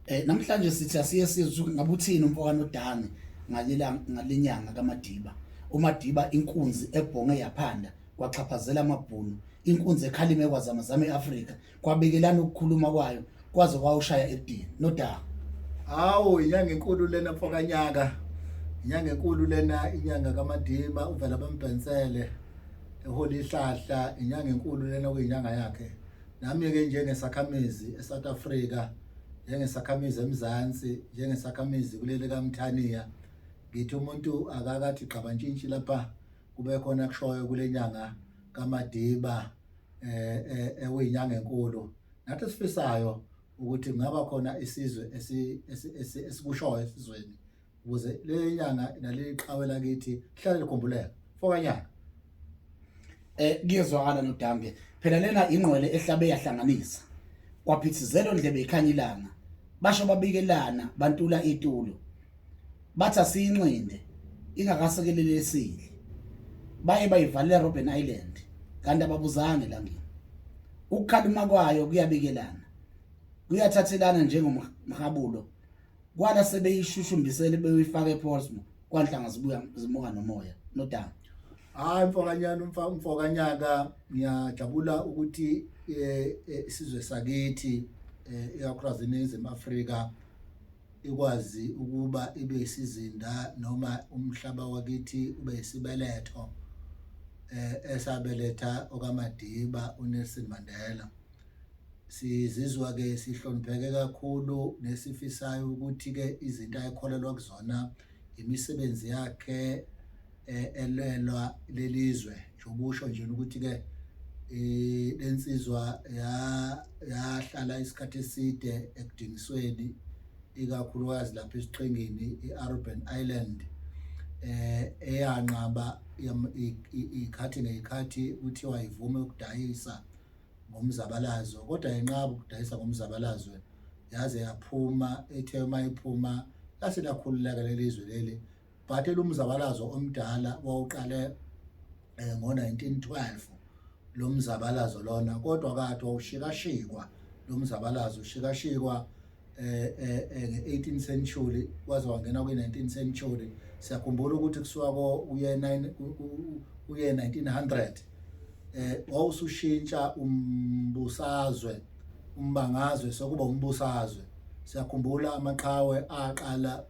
Eh namhlanje sithi asiye sizwe ngabe uthini umfowano uDani ngalelanga ngalenyanga kaMadiba. UMadiba inkunzi ebhonge yaphanda kwaxhaphazela amabhunu. Inkunzi ekhalime kwazama zama eAfrika kwabekelana ukukhuluma kwayo kwaze kwawushaya edini. Nodaba. Hawu inyanga enkulu lena mfokanyaka. Inyanga enkulu lena inyanga kaMadiba uvela bambhensele eholi ihlahla inyanga enkulu lena kuyinyanga yakhe. Nami-ke njengesakhamizi eSouth Africa, njengesakhamizi eMzansi, njengesakhamizi kuleli kaMthaniya, ngithi umuntu akakathi gxabantshintshi lapha kube khona kushoyo kule nyanga kaMadiba eh, eh ewinyanga enkulu. Nathi sifisayo ukuthi kungaba khona isizwe esikushoyo esizweni ukuze leli nyanga naleli qhawe lakithi lihlale likhumbuleka fokanyana eh kuyezwakala nodambe phela lena ingqwele ehlabe yahlanganisa kwaphithizela ondlebe ikhanya ilanga basho babikelana bantula itulo bathi asiyinxinde ingakasekelele esile baye bayivalela Robben Island kanti ababuzange langeni ukukhalima kwayo kuyabikelana kuyathathelana njengomhabulo kwala sebeyishushumbisele beyifaka ePorsmo kwanhlanga zibuya zimuka nomoya nodanga hayi mfokanyana umfa umfokanyaka ngiyajabula ukuthi eh, eh, isizwe sakithi eh, ikakhulukazi iningizimu afrika ikwazi ukuba ibe isizinda noma umhlaba wakithi ube isibeletho eh esabeletha okamadiba unelson mandela Sizizwa-ke sihlonipheke kakhulu nesifisayo ukuthi-ke izinto ayekholelwa kuzona imisebenzi yakhe eh, elwelwa lelizwe nje ubusho nje ukuthi-ke eh, le nsizwa yahlala isikhathi eside ekudingisweni ikakhulukazi lapha esiqhingini i-urban island eh eyanqaba ikhathi ngekhathi kuthiwa ivume ukudayisa ngomzabalazo kodwa yenqaba ukudayisa ngomzabalazwe yaze yaphuma ethe uma iphuma lase lakhululeka leli zwe leli but elumzabalazo omdala wawuqale eh, ngo-1912 lo mzabalazo lona kodwa kade wawushikashikwa lo mzabalazo ushikashikwa eh eh, eh nge-18 century waze wangena kwi-19 century siyakhumbula ukuthi kusuka uye 9 uye 1900 eh wawusushintsha umbusazwe umbangazwe sokuba umbusazwe siyakhumbula amaqhawe aqala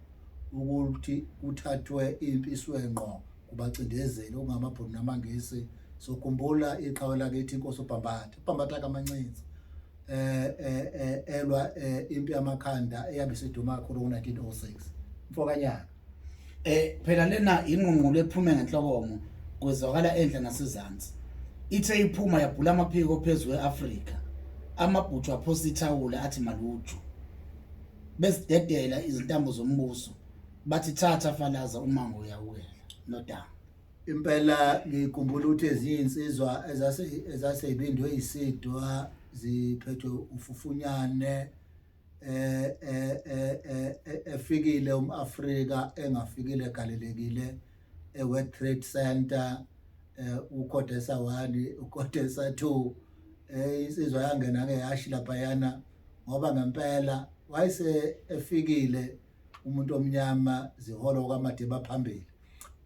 ukuthi kuthathwe impi iswenqo kubacindezeli okungamabhunu namangisi sokhumbula iqhawe lakithi inkosi ubhambatha ubhambatha kamancinza eh, eh, eh elwa eh, impi yamakhanda eyabe isiduma kakhulu ngo-1906 mfokanyaka eh phela lena inqunqulo ephume ngenhlokomo kwezwakala endle nasezansi ithe iphuma yabhula amaphiko phezu kwe-afrika amabhuthu aphosa ithawula athi maluju bezidedela izintambo zombuso bathi thatha falaza umango uyawela nodaba Impela ngikhumbula ukuthi ezinye insizwa ezase ezasebindwe isidwa ziphethwe ufufunyane eh, eh, eh, efikile umAfrika engafikile galelekile eWorld Trade Center uKhodesa 1 uKhodesa 2 eh insizwa yangena ke yashi lapha yana ngoba ngempela wayese efikile umuntu omnyama ziholo kwaMadiba phambili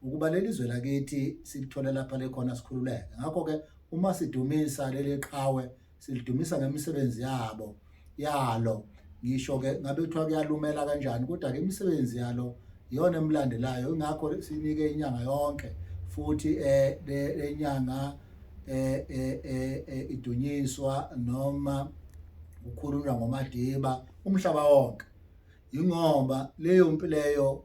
ukuba leli zwe lakithi silithole lapha lekhona sikhululeke ngakho-ke uma sidumisa leli qhawe silidumisa ngemisebenzi yabo yalo ngisho-ke ngabe kuthiwa kuyalumela kanjani kodwa-ke imisebenzi yalo iyona emlandelayo ingakho sinike inyanga yonke futhi um le nyanga um um idunyiswa noma kukhulunywa ngomadiba umhlaba wonke yingoba leyo mpi leyo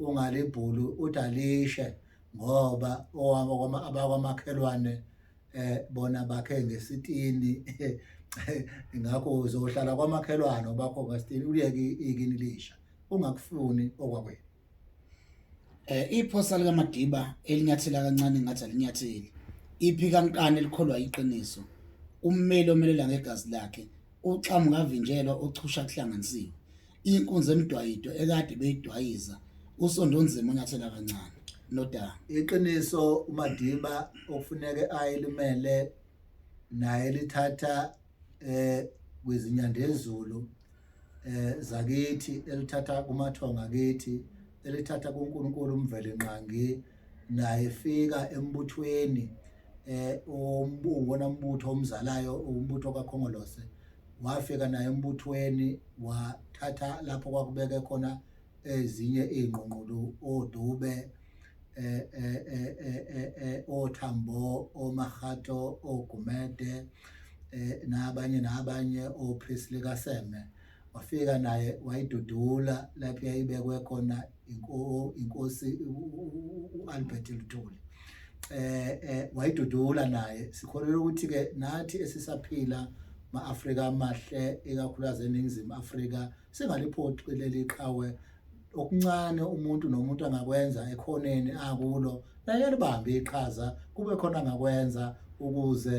ungalibhuli uthi alishe ngoba abakwamakhelwane eh bona bakhe ngesitini ngakho uzohlala kwamakhelwane obakho ngesitini uliyeke ikini lisha ungakufuni okwakwenu eh iphosa lika Madiba elinyathela kancane ngathi alinyatheli iphi kankani elikholwa iqiniso ummeli omelela ngegazi lakhe uxamu ngavinjelwa ochusha kuhlanganisiwe inkunzi emdwayido ekade beyidwayiza usondonzima unyathela kancane nodaba iqiniso uMadiba okufuneke ayelimele naye lithatha eh kwizinyandezulu eh zakithi elithatha kumathonga kithi elithatha kuNkulunkulu umvele nqangi naye fika embuthweni eh umbona umbutho omzalayo umbutho kaKhongolose wafika naye embuthweni wathatha lapho kwakubeke khona ezinye iy'ngqungqulu oDube eh, eh, eh, oThambo oMahato oGumede nabanye nabanye oPrisley kaSeme wafika naye wayidudula lapho yayibekwe khona inkosi u-albert luthuli eh, eh wayidudula naye sikholelwa ukuthi ke nathi esisaphila ma-afrika amahle ikakhulukazi eningizimu afrika singaliphoqi leli qhawe okuncane umuntu nomuntu angakwenza ekhoneni akulo naye libambe iqhaza kube khona angakwenza ukuze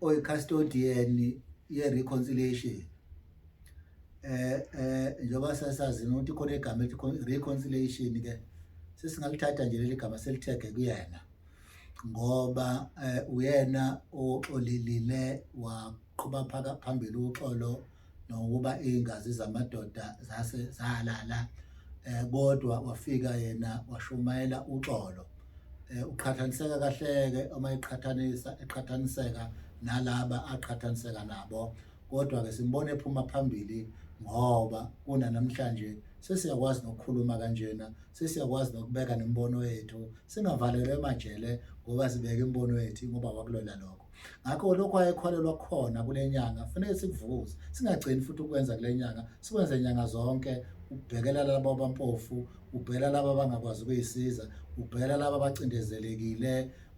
oyi-custodian ye-reconciliation eh eh njengoba sasazi ukuthi khona igama elithi reconciliation ke sesingalithatha nje leli gama selithege kuyena ngoba eh, uyena oxolelile waqhuba phambili uxolo nokuba iingazi zamadoda zase zalala eh, kodwa wafika yena washumayela uxolo eh, uqhathaniseka kahleke uma eqhathanisa eqhathaniseka nalaba aqhathaniseka nabo kodwa ke simbona ephuma phambili ngoba kuna namhlanje sesiyakwazi nokukhuluma kanjena sesiyakwazi nokubeka nembono yethu singavalelwe emajele ngoba sibeke imbono yethu ngoba wakulola lokho Ngakho lokho ayekholelwa khona kule nyanga kufanele sikuvukuze, singagcini futhi ukwenza kule nyanga, sikwenze nyanga zonke ubhekela labo abampofu, ubhekela labo abangakwazi ukuyisiza, ubhekela labo abacindezelekile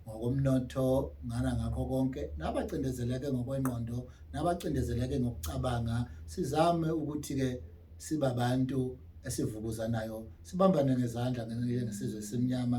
ngokomnotho ngana ngakho konke nabacindezeleke ngokwengqondo nabacindezeleke ngokucabanga sizame ukuthi-ke sibabantu esivukuzanayo sibambane ngezandla ngesizwe esimnyama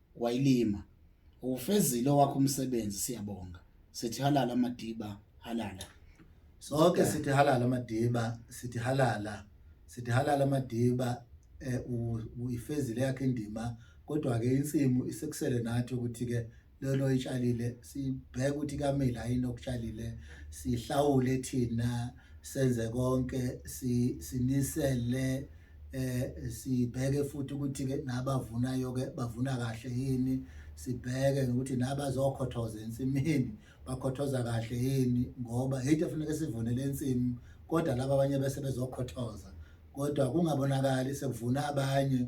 wayilima uwufezile owakho umsebenzi siyabonga sithi halala madiba halala sonke sithi halala madiba sithi halala sithi halala madiba eh, uyifezile yakhe indima kodwa ke insimu isekusele nathi ukuthi ke lelo itshalile sibheke ukuthi kamila yini okutshalile sihlawule thina senze konke sinisele eh sibheke futhi ukuthi ke nabavunayo ke bavuna kahle yini sibheke ukuthi nabazokhothoza ensimini bakhothoza kahle yini ngoba yithe funeka sivunele insimi kodwa laba abanye bese bezokhothoza kodwa kungabonakali sekuvuna abanye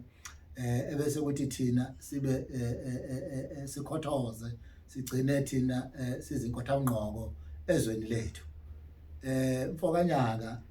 eh ebese kuthi thina sibe eh, eh, eh, sikhothoze sigcine thina sizinkotha ungqoko ezweni lethu eh mfokanyaka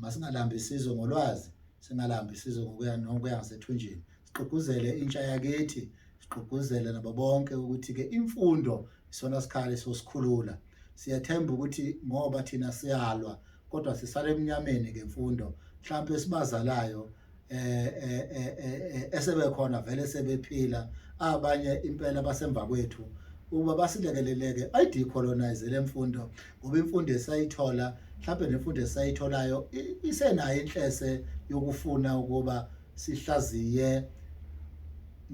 Masingalambi isizwe ngolwazi, singalambi isizwe ngokuya nokuya ngasethunjini. Sigqugquzele intsha yakithi, sigqugquzele nabo bonke ukuthi-ke imfundo isona sikhali sosikhulula. Siyathemba ukuthi ngoba thina siyalwa kodwa sisale emnyameni ngemfundo. Mhlawumpe esibazalayo eh, eh, eh, esebekhona vele sebephila abanye impela basemva kwethu ukuba basilekeleleke ayidecolonize le mfundo ngoba imfundo esayithola mhlawumbe nemfundo esayitholayo isenayo inhlese yokufuna ukuba sihlaziye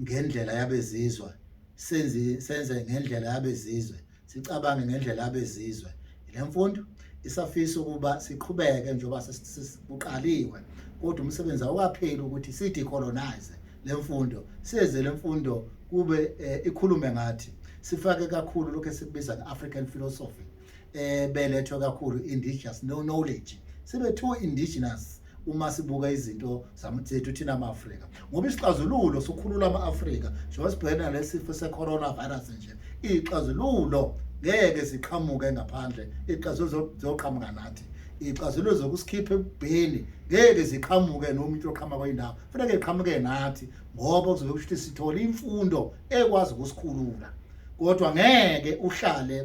ngendlela yabezizwa senze senze ngendlela yabezizwe Sicabange ngendlela abezizwe. Le mfundo isafisa ukuba siqhubeke njengoba sesikuqaliwe kodwa umsebenzi awukapheli ukuthi sidecolonize le mfundo size le mfundo kube eh, ikhulume ngathi sifake kakhulu lokho esikubiza nge-african philosophy um belethwe kakhulu indigenous no knowledge sibe too indigenous uma sibuka izinto zethu thina ama-afrika ngoba isixazululo sokhulula ama-afrika njengoba sibhekene nalesifo se-coronavirus nje iyixazululo ngeke siqhamuke ngaphandle ixazululo zoqhamuka nathi iyixazululo zokusikhipha ebubheni ngeke ziqhamuke noma into oqhama kweyindawo kufaneke iqhamuke nathi ngoba kuzobe kusho ukuthi sithole imfundo ekwazi ukusikhulula kodwa ngeke uhlale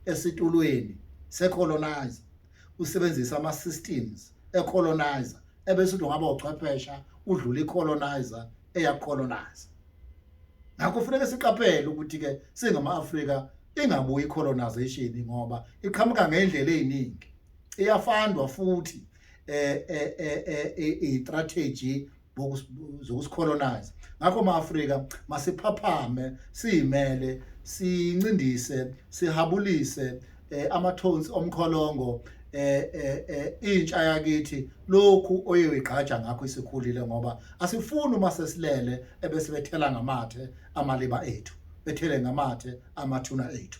esitulweni secolonize usebenzisa ama systems e colonizer ebese uthi ungaba uchwephesha udlula i colonizer eya colonizer ngakho kufanele siqaphele ukuthi ke singama Africa ingabuyi colonization ngoba iqhamuka ngendlela eziningi iyafandwa futhi eh eh eh, eh, eh i strategy zokusicolonize ngakho ma-afrika masiphaphame siyimele sincindise sihabulise eh, ama-tones omkholongo eh, eh, eh, intsha yakithi lokhu oyoyigqaja ngakho isikhulile ngoba asifuni uma sesilele ebesibethela ngamathe amaliba ethu bethele ngamathe amathuna ethu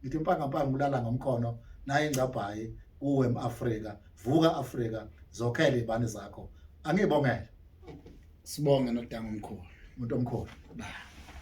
ngithi mpankapanga ulala ngomkhono naye ingcabhayi kuwe mAfrika vuka Afrika zokhele ibani zakho angibongele sibonge nodango omkhulu umuntu omkhulu ba